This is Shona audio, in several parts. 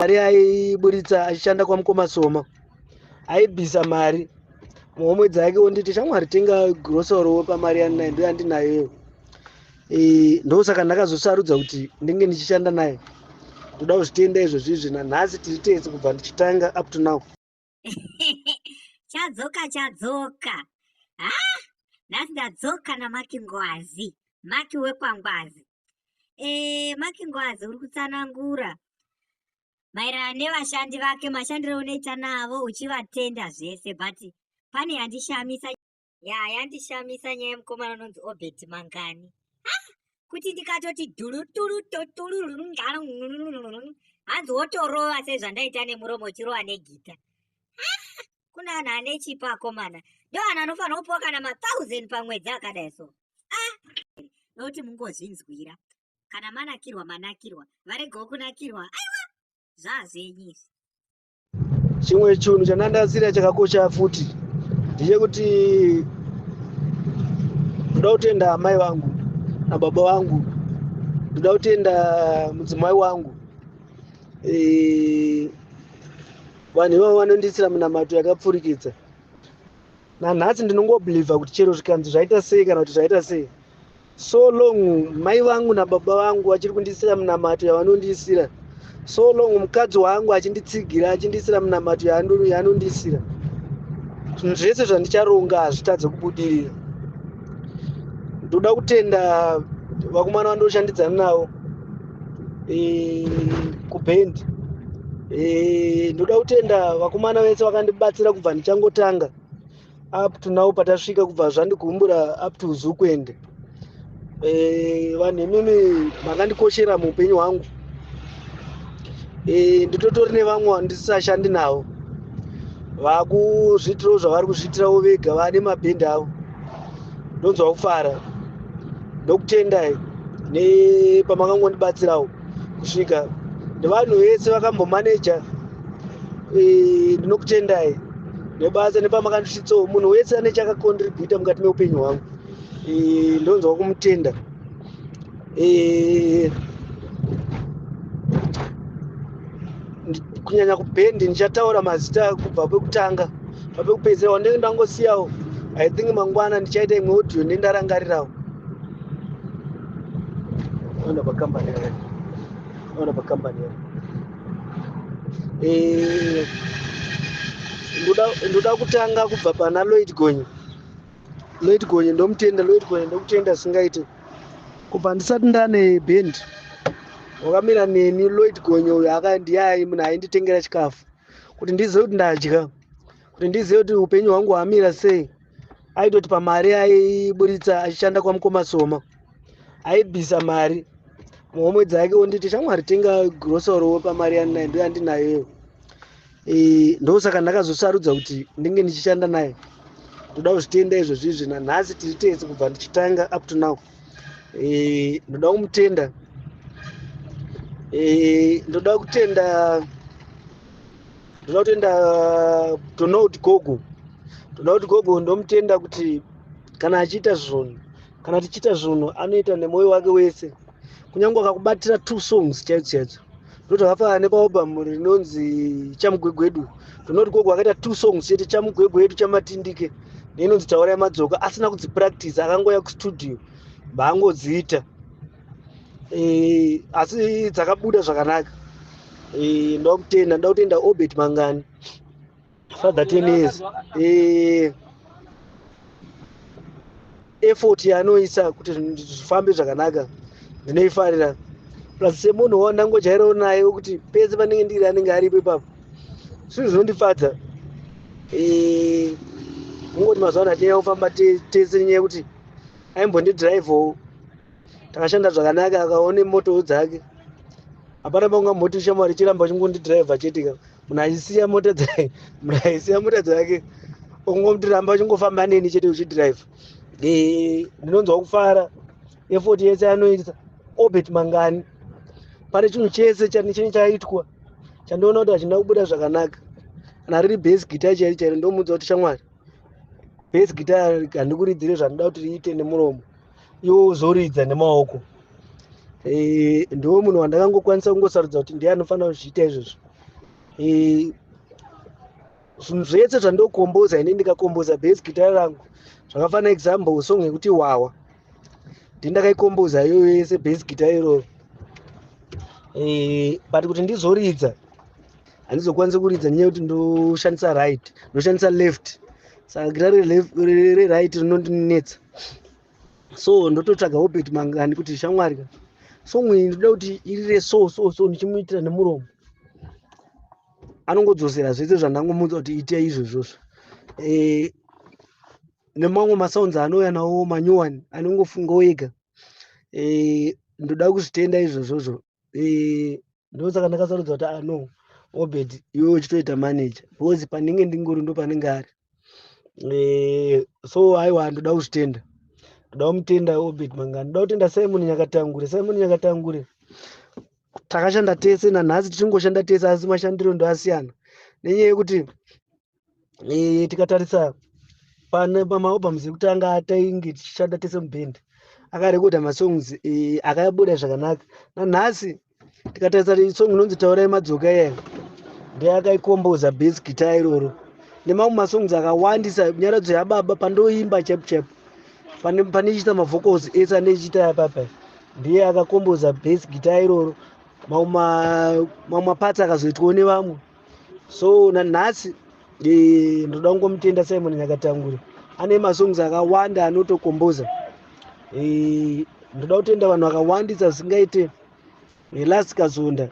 mari aiburitsa achishanda kwamukoma soma aibvisa mari muhomwe dzake onditi shamwari tenga grosorowo pamari yaninayo ndo yandinayoyo e, ndosaka ndakazosarudza kuti ndinge ndichishanda naye ndoda kuzvitenda izvozvizvi nanhasi tiri tese kubva ndichitanga up to now chadzoka chadzoka ha nhasi ndadzoka namaki ngwazi maki wekwangwazi e, maki ngwazi uri kutsanangura maererano nevashandi vake mashandiro unoita navo uchivatenda zvese but pane yandishamisa ya yandishamisa nyaya yemukomana unonzi obert mangani kuti ndikatoti duluturutoturuhanzi wotorova sezvandaita nemuromo uchirova negita kuna anhu ane chipo akomana ndo anhu anofanira kupiwa kana mathousand pamwedzi akadai so nokuti mungozvinzwira kana manakirwa manakirwa varegawo kunakirwa aiwa zvazvenyizvi chimwe chinhu chandandatsira chakakosha futi ndechekuti ndoda kutenda amai vangu nababa vangu ndoda kutenda mudzimai wangu Eh, vanhu ivavo vanondiitira minamato yakapfurikidza nanhasi ndinongobhilivha kuti chero zvikanzi zvaita sei kana kuti zvaita sei so long mai vangu nababa vangu vachiri kundiisira minamato yavanondiisira so long mukadzi wangu achinditsigira achindiisira minamato yaanondiisira zvinhu zvese zvandicharonga hazvitadze kubudirira ndoda kutenda vakomana vandoshandidzana navo e, kubhendi e, ndoda kutenda vakomana vese vakandibatsira kubva ndichangotanga up to now patasvika kubva zvandikumbura up to zukwende eh, vanhu e, imimi makandikoshera muupenyu hwangu e, nditotori nevamwe vandisisashandi navo vakuzviitirawo zvavari kuzviitirawo vega vane mabhendi avo ndonzwa kufara ndokutendai nepamakangonibatsirawo kusvika nevanhu vese vakambomaneja eh, ndinokutendai nebasa nepamakandisvitsawo munhu wese ane chakakontributa mukati meupenyu hwangu eh, ndonzwa kumutenda eh, kunyanya kubhendi ndichataura mazita kubva kwekutanga bva kwekupedzisira wandenge ndangosiyawo i think mangwana ndichaita imwe audio ndi ndarangarirawo ona pakambani yake ona pakambani yake eh, ndoda kutanga kubva pana loid gonyi Lloyd Gonye ndomutenda, Lloyd Gonye ndokutenda singaite. Kubva ndisati ndane band wakamira neni Lloyd Gonye uyo akandiyayi munhu ainditengera chikafu kuti ndizive kuti ndadya kuti ndizive kuti upenyu hwangu hwamira sei aitoti pamari aiburitsa achishanda kwamukoma soma aibvisa mari muhomwe dzake onditi shamwari tenga grocery wo pamari yandinayo ndo yandinayoyo e, ndosaka ndakazosarudza kuti ndinge ndichishanda naye ndoda kuzvitenda izvozvizvi nanhasi tiri tese kubva ndichitanga up to now e, ndoda kumutenda e, ndoda kutenda ndoda kutenda tonoda kuti gogo tonoda kuti gogo ndomutenda kuti kana achiita zvunhu kana tichiita zvunhu anoita nemwoyo wake wese kunyange akakubatira two songs chaidzo chaidzo ndoti akafanana nepaobhamu rinonzi chamugwegwedu ndinoti gogo akaita two songs chete chamugwegwe yedu chamatindike neinonzi taura yamadzoka asina kudzipractice akangouya kustudio baangodziita e, eh, asi dzakabuda zvakanaka e, eh, ndoda kutenda ndoda kutenda obert mangani Father Tenez eh effort yaanoisa kuti zvifambe zvakanaka ndinoifarira plus semunhu wandangojairawo naye wekuti pese panenge ndiri anenge aripo ipapo zvinhu zvinondifadza eh, mungoti mazuva ano hatinyaya kufamba tese nenyaya yekuti aimbondidhiraivhowo takashanda zvakanaka akaone motowo dzake hapana pangamoti shamwari chiramba chingondidhiraivha chete ka munaisiya mota dzake munaisiya mota dzake ungomutiramba uchingofamba neni chete uchidrive ndinonzwa kufara efoti yese anoita obert mangani pane chinhu chese chine chaitwa chandiona kuti hachina kubuda zvakanaka kana riri base gita chairi chairo ndomuudza kuti shamwari base gita handikuridzire zvandida kuti riite nemuromo iwo uzoridza nemaoko eh, ndiwo munhu wandakangokwanisa kungosarudza kuti ndiye anofanira kuzviita izvozvo eh, zvinhu zvese zvandokomboza ini ndikakomboza bas gitara rangu zvakafana example song yekuti wawa ndindakaikomboza iyoyo yese bas gitara iroro eh, but kuti ndizoridza handizokwanisi kuridza nyaya yekuti ndoshandisa right ndoshandisa left saka gira reright rinondinetsa so ndototsvaga obert mangani kuti shamwari ka song iyi ndoda kuti irire so so so ndichimuitira nemuromo anongodzosera zvese zvandangomuudza kuti ita izvo izvozvo e, nemamwe masounds anouya nawo manyowani anongofunga wega e, ndoda kuzvitenda izvozvozvo eh, ndosaka ndakasarudza kuti ah, no obed iwe uchitoita manager because pandinge ndingori ndo panenge ari eh, so aiwa ndoda kuzvitenda ndoda kumutenda obed mangani ndoda kutenda simon nyakatangure simon nyakatangure takashanda tese nanhasi tichingoshanda tese asi mashandiro ndoasiyana nenyaya yekuti e, tikatarisa pane pamaobams ekutanga tainge tichishanda tese muband akarekoda masongs e, akabuda zvakanaka nanhasi tikatarisa song inonzi taurai madzoka iyayo ndeakaikomboza bas guitar iroro nemamwe masongs akawandisa nyaradzo yababa pandoimba chap chap pane pane ichiita mavocals ese ane ichiita yapapa ndiye akakomboza bas guitar iroro mamwe mapatsi akazoitwawo nevamwe so nanhasi eh, ndoda kungomutenda simon nyakatangure ane masongs akawanda anotokomboza eh, ndoda kutenda vanhu vakawandisa zvisingaite eh, last kazonda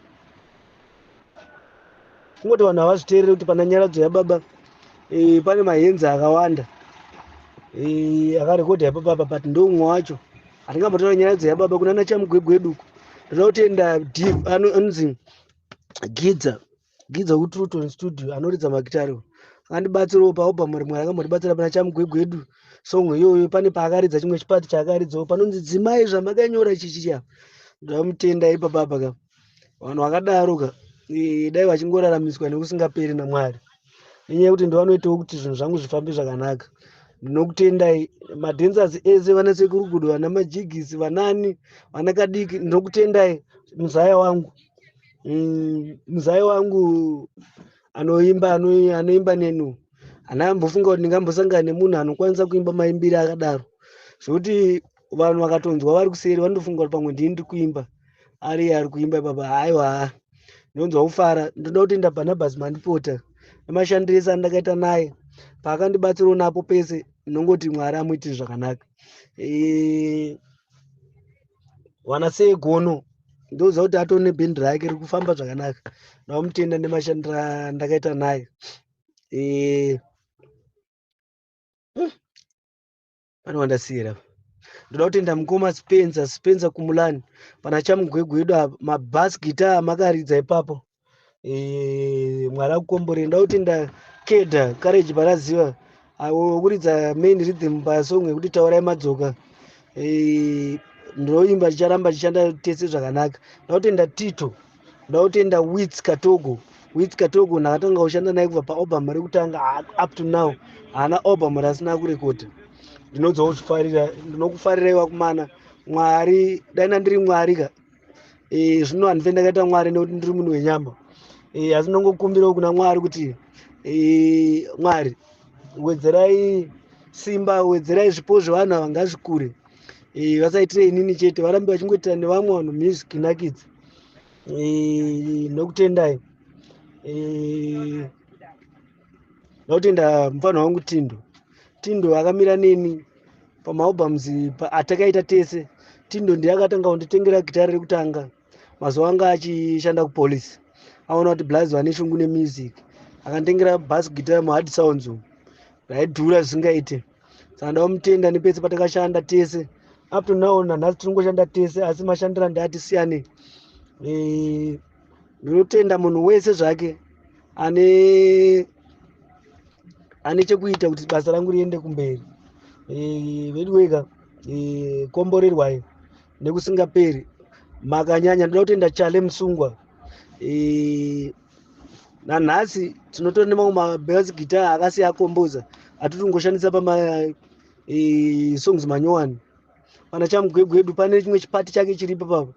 kungoti vanhu havazviteerere kuti pana nyaradzo yababa pane mahenzi akawanda akarekodha yababa apa but ndoumwe wacho hatingambotora nyaradzo yababa kunana chamugwegweduku ndoda kutenda anonzi gidza gidza kutruton studio anoridza magitari andibatsirawo paalbum rimwe rakambotibatsira pana chamugwegwedu song iyoyo pane paakaridza chimwe chipati chaakaridzawo panonzi dzimai zvamakanyora chichiya ndamutenda ipapapa ka vanhu vakadaro ka dai vachingoraramiswa nekusingaperi namwari nenyaya yekuti ndovanoitawo kuti zvinhu zvangu zvifambe zvakanaka ndinokutendai madhensers ese vana sekurugudo vana majigisi vanani vana kadiki ndinokutendai muzaya wangu Mm, muzai wangu anoimba ano- anoimba nenu ana ambofunga kuti ndingambosangana nemunhu anokwanisa kuimba maimbiri akadaro zvekuti vanhu vakatonzwa vari kuseri vanotofunga kuti pamwe ndini ndiri kuimba ari iye ari kuimba ipapa haiwa ndinonzwa kufara ndinoda kutenda barnabas mandipota nemashandiro ese andakaita naye paakandibatsirawo napo pese ndinongoti mwari amuitire zvakanaka Eh, wana sei gono ndouza kuti atone nebhindi rake rikufamba zvakanaka ndaumutenda nemashandira ndakaita naye eh, hmm, pane wandasiyira ndoda kutenda mukoma spencer spencer kumulani pana chamugwegwedu mabas guitar makaridza ipapo Eh, mwari akukomborei ndauti ndakeda courage paraziva akuridza main rhythm pasong yekuti taurai madzoka eh, ndinoimba chicharamba chichanda tese zvakanaka ndautenda tito ndautenda wits katogo wits katogo ndakatanga kushanda naye kubva paobam rekutanga up to now haana obam rasina kurekodha ndinodzawo zvifarira ndinokufarira iwakumana mwari dai nandiri mwari ka eh, zvino handife ndakaita mwari nekuti ndiri munhu wenyama eh, asi ndongokumbirawo kuna mwari kuti eh, mwari wedzerai simba wedzerai zvipo zvevanhu ava ngazvikure eh, vasaitire inini chete varambe vachingoitira nevamwe vanhu music nakidzi eh, nokutendai eh, ndakutenda mufana wangu tindo tindo akamira neni pamaobams atakaita tese tindo ndiye akatanga kunditengera gitari rekutanga mazuva anga achishanda kupolice aona kuti blaz vane shungu nemusic akanditengera bas gitari muhard sounds umu raidhura zvisingaite saka ndaomutenda nepese patakashanda tese up to now nanhasi tiri kungoshanda tese asi mashandira ndiati siyane eh, ndinotenda munhu wese zvake ane ane chekuita kuti basa rangu riende kumberi eh, veduweka eh, komborerwai nekusingaperi makanyanya ndinoda kutenda chale musungwa eh, nanhasi tinotora nemamwe mabas gita akasi akomboza atiri kungoshandisa pamasongs manyowani pana chamugwegwedu pane chimwe chipati chake chiripo papa